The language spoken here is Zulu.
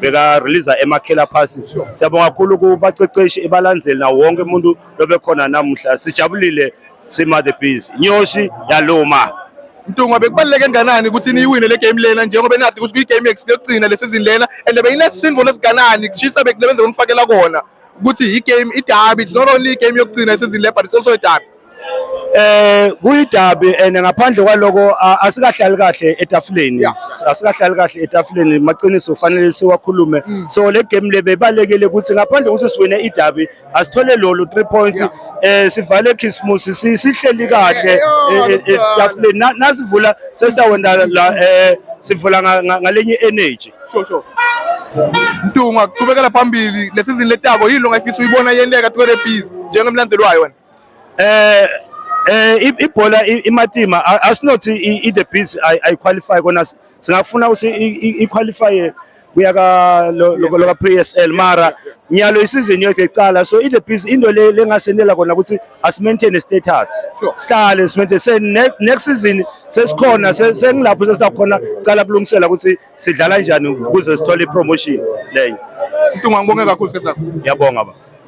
bekareleasa emakhela phasi siyabonga kakhulu kubaqeqeshi ebalandzeli nawo wonke umuntu lobekhona namuhla sijabulile sima the bees inyosi yaluma Mtungwa bekubaluleke kangakanani ukuthi niyiwine le game lena njengoba enathi ukuthi kuyigame yokugcina le season lena and beyinesisindvo lesiganani kushisa bekulebenze kumfakela kona ukuthi i-game idabi it's not only i-game yokugcina esizini le but it's also a derby Eh kuyidabi and ngaphandle kwaloko asikahlali kahle etafuleni asikahlali kahle etafuleni maqiniso kufanele siwakhulume mm. so le game le bebalekele ukuthi ngaphandle ukuthi siwine idabi asithole lolo 3 points eh sivale Christmas sihleli kahle e, e, etafuleni nasivula sesitawenda la eh sivula ngalenye energy sure sure Mtunga kuchubekela phambili lesizini letako yini ongayifisa uyibona yenteka 20 piece njengemlandzelwayo wena Eh eh ibhola imatima asinothi i the beats i qualify kona singafuna ukuthi i qualify kuya ka loka PSL mara nyalo isizini yethu ecala so i the beats into le lengasenela kona ukuthi as maintain status sihlale simente se next season sesikhona sengilapho sesikhona cala kulungisela ukuthi sidlala kanjani ukuze sithole promotion leyo Mtunga ngibonge kakhulu sikhathi sakho. Ngiyabonga ba.